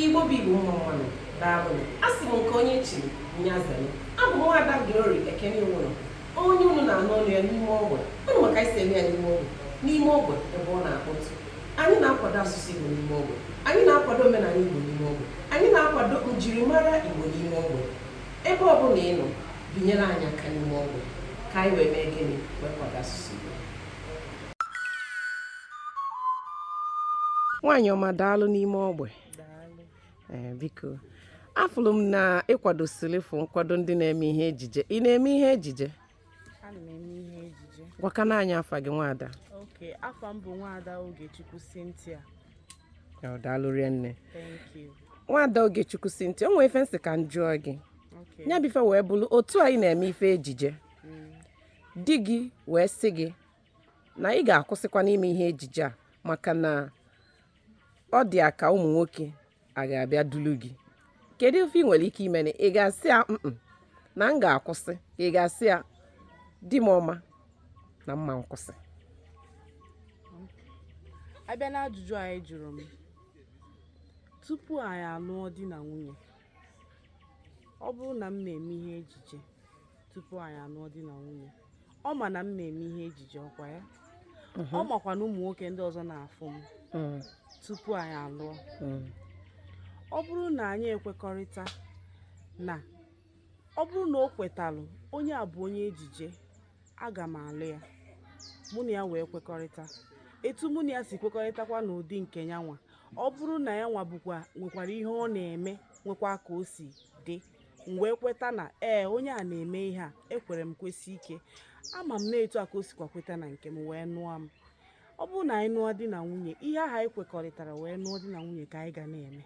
Igbo bụ Igbo mma mmanụ daalụnụ asị m nke onye chiri nya zelu abụ m nwaada Glory Ekene Iwụlọ onye unu na-anụ olu ya n'ime ogbe unu ma ka e si eme ya n'ime ogbe n'ime ogbe ebe ọ na-akpọtụ anyị na-akwado asụsụ Igbo n'ime ogbe anyị na-akwado omenala Igbo n'ime ogbe anyị na-akwado njirimara Igbo n'ime ogbe ebe ọ bụla ị nọ binyere anyị aka n'ime ogbe ka anyị wee mee gịnị wee kwado asụsụ Igbo nwaanyị ọma daalụ n'ime ogbe ee biko afụlụ m na ị kwadosilifu nkwado ndị na-eme ihe ejije ị na-eme ihe ejije ana m eme ihe ejije gwakene anyị afa gị nwaada okay afa m bụ nwaada ogechukwu cynthia Ọ daalụ rinne thank you nwaada ogechukwu cynthia o nwee ife m sị ka m jụọ gị okay ya bụ ife wee bụrụ otu anyị na-eme ife ejije di gị wee sị gị na ị ga-akwụsịkwanụ ime ihe ejije a maka na ọ dị ya ka ụmụ nwoke a ga-abịa dulu gị kedu ife ị nwere ike ime na ị ga-asị ya Mm-mm, na m ga-akwụsị ka ị ga-asị ya di m ọma na mma nkwụsị a bịa n'ajụjụ ahụ ị jụrụ m tupu anyị alụọ di na nwunye ọ bụrụ na m na-eme ihe ejije tupu anyị alụọ di na nwunye ọ ma na m na-eme ihe ejije ọkwa ya ọ makwa na ụmụ nwoke ndị ọzọ na-afụ m Mm, tupu anyị alụọ mm, ọ bụrụ na anyị ekwekọrịta na ọ bụrụ na o kwetalụ onye a bụ onye ejije aga m alụ ya mụ na ya wee kwekọrịta etu mụ na ya si kwekọrịtakwa n'ụdị nke ya nwa ọ bụrụ na ya nwa bụkwa nwekwara ihe ọ na-eme nwekwa ka o si dị m wee kweta na ee onye a na-eme ihe a ekwere m kwesie ike ama m na etu a ka o sikwa kweta na nke m wee nụọ m ọ bụrụ na anyị nụọ di na nwunye ihe ahụ anyị kwekọrịtara wee nụọ di na nwunye ka anyị ga na-eme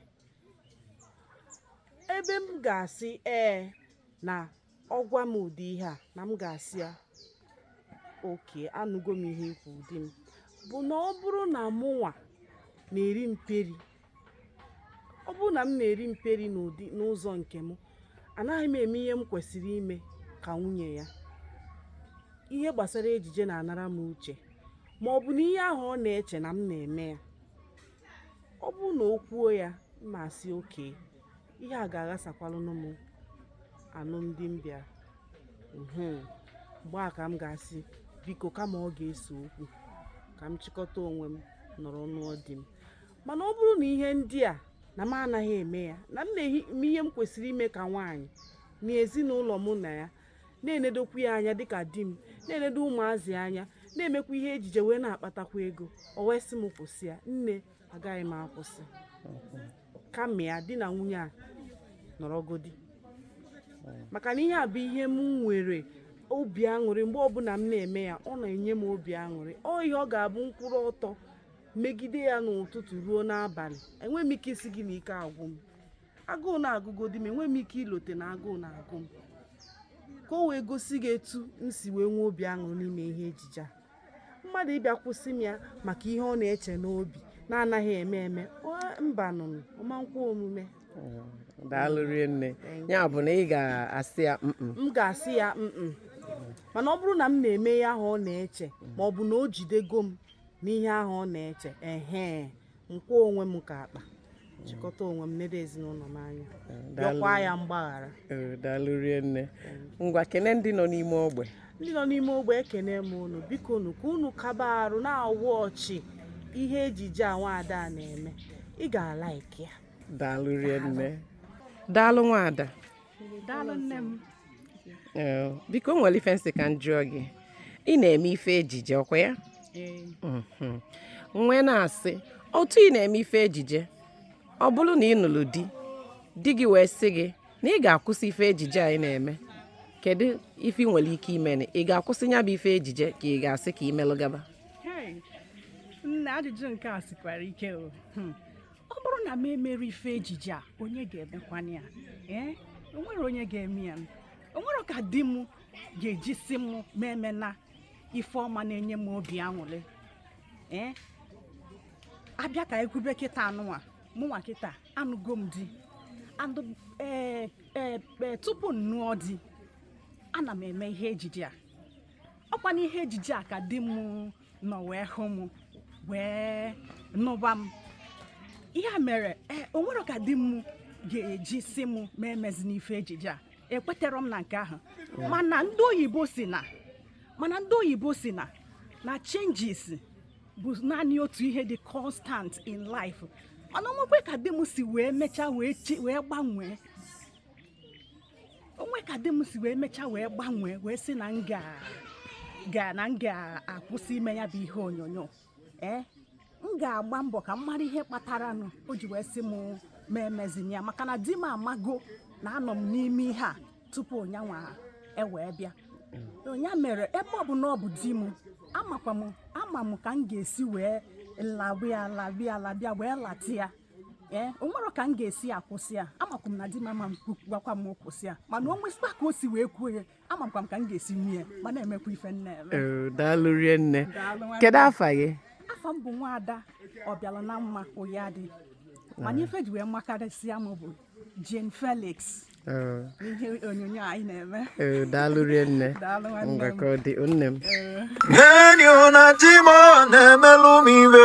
ebe m ga-asị ee na ọ gwa m ụdị ihe a na m ga-asị ya okay anụgo m ihe i kwuru di m bụ na ọ bụrụ na mụnwa na-eri mperi ọ bụrụ na m na-eri mperi n'ụdị n'ụzọ nke m anaghị m eme ihe m kwesịrị ime ka nwunye ya ihe gbasara ejije na-anara m uche ma ọ bụ na ihe ahụ ọ na-eche na m na-eme ya ọ bụrụ na o kwuo ya m asị okay ihe a ga-aghasakwalụnụ m anụmdi m bịara mhm. mgbe a ka m ga-asị biko kama ọ ga-ese okwu ka m chịkọta onwe m nọrọ n'ụọ di m mana ọ bụrụ na ihe ndị a na m anaghị eme ya na m na-eme ihe m kwesịrị ime ka nwaanyị na ezinụlọ mụ na ya na-enedokwu ya anya dịka di m na-enedo ụmụazị anya na-emekwa ihe ejije wee na-akpatakwa ego o wee sị m kwụsị ya nne agaghị m akwụsị kama ya di na nwunye a nọrọgodi maka na ihe a bụ ihe m nwere obi aṅụrị mgbe ọbụla m na-eme ya ọ na-enye m obi aṅụrị ọ ihe ọ ga-abụ m kwụrụ ọtọ megide ya n'ụtụtụ ruo n'abalị enweghị m ike ịsị gị na ike agwụ m agụụ na-agụgodi m enweghị m ike ilote na agụụ na-agụ m ka o wee gosi gị etu m si wee nwee obi aṅụrị n'ime ihe ejije a mmadụ ịbịa kwụsị m ya maka ihe ọ na-eche n'obi na-anaghị eme eme mba nụnụ ọmankwa omume daalụ rie nne ya bụ na ị ga-asị ya m ga-asị ya mana ọ bụrụ na m na-eme ihe ahụ ọ na-eche ma ọ bụ na o jidego m n'ihe ahụ ọ na-eche ehe nkwa onwe m ka akpa chịkọta onwe m nedo ezinụlọ m anya yọkwa ya mgbaghara Ee, daalụ rie nne ngwa kene ndị nọ n'ime ogbe ndị nọ n'ime ogbe ekene m unu biko unu ka unu kaba arụ na-awụ ọchị ihe ejije a nwaada na-eme ị ga-alaiki ya daalụ rie nne daalụ nwaada daalụ nne m Ee, biko o nwere ife m sị ka m jụọ gị ị na-eme ife ejije ọkwa ya ee Mhm. m wee na-asị otu ị na-eme ife ejije ọ bụrụ na ị nụrụ di di gị wee sị gị na ị ga-akwụsị ife ejije a ị na-eme kedu ife ị nwere ike ime na ị ga-akwụsị ya bụ ife ejije ka ị ga-asị ka i melụ gaba Hey, nne ajụjụ nke a sikwara ike o Hmm. ọ bụrụ na m emerọ ife ejije a onye ga-emekwana ya ee o nwere onye ga-eme ya o nwerọ ka di m ga-eji sị m m emena ife ọ ma na-enye m obi aṅụrị ee a bịa ka e kwube kịta a nụwa mụnwa kịta anụgo m di ee e, e, tupu m nụọ di ana m eme ihe ejije a ọkwa n'ihe ejije a ka di m nọ wee hụ m wee nụba m ihe a mere e, o nwerọ ka di m ga-eji sị m m emezina ife ejije a ekweterọ m na nke ahụ mana ndị oyibo sị na na changes bụ naanị otu ihe dị constant in life mana o nwekwe ka di m si wee mechaa wee gbanwee o nwee ka di m si wee mechaa wee gbanwee wee sị na m ga ga na m ga-akwụsị ime ya bụ ihe onyonyo ee eh? m ga-agba mbọ ka m mara ihe kpatara nụ o ji wee sị m mụ emezina ya maka na di m amago na anọ m n'ime ihe a tupu nyanwa ewee bịa nya mere ebe ọ bụ na ọ bụ di m amakwa m ama m ka m ga-esi wee laba ya laba ya laba ya wee lata ya ee o nwere ka m ga-esi akwụsị ya amakwa m na di m ama agwakwa m kwụsị ya mana o nwesịkwa ka o si wee kwuo ya amakwa m ka m ga-esi nwunye ya ma na-emekwa ife m na-eme Ee, daalụ rinne Daalụ nwanne. kedu afa gị afa m bụ nwaada Ọbịalanamma Ụyadị mana ife e ji wee makarịsịa m bụ Jane Felix Ee, n'ihe onyonyo anyị na-eme ee, daalụ rinne Daalụ nwanne m. ngwa ka ọ dị nne m Enyi na di m na-emelụ m iwe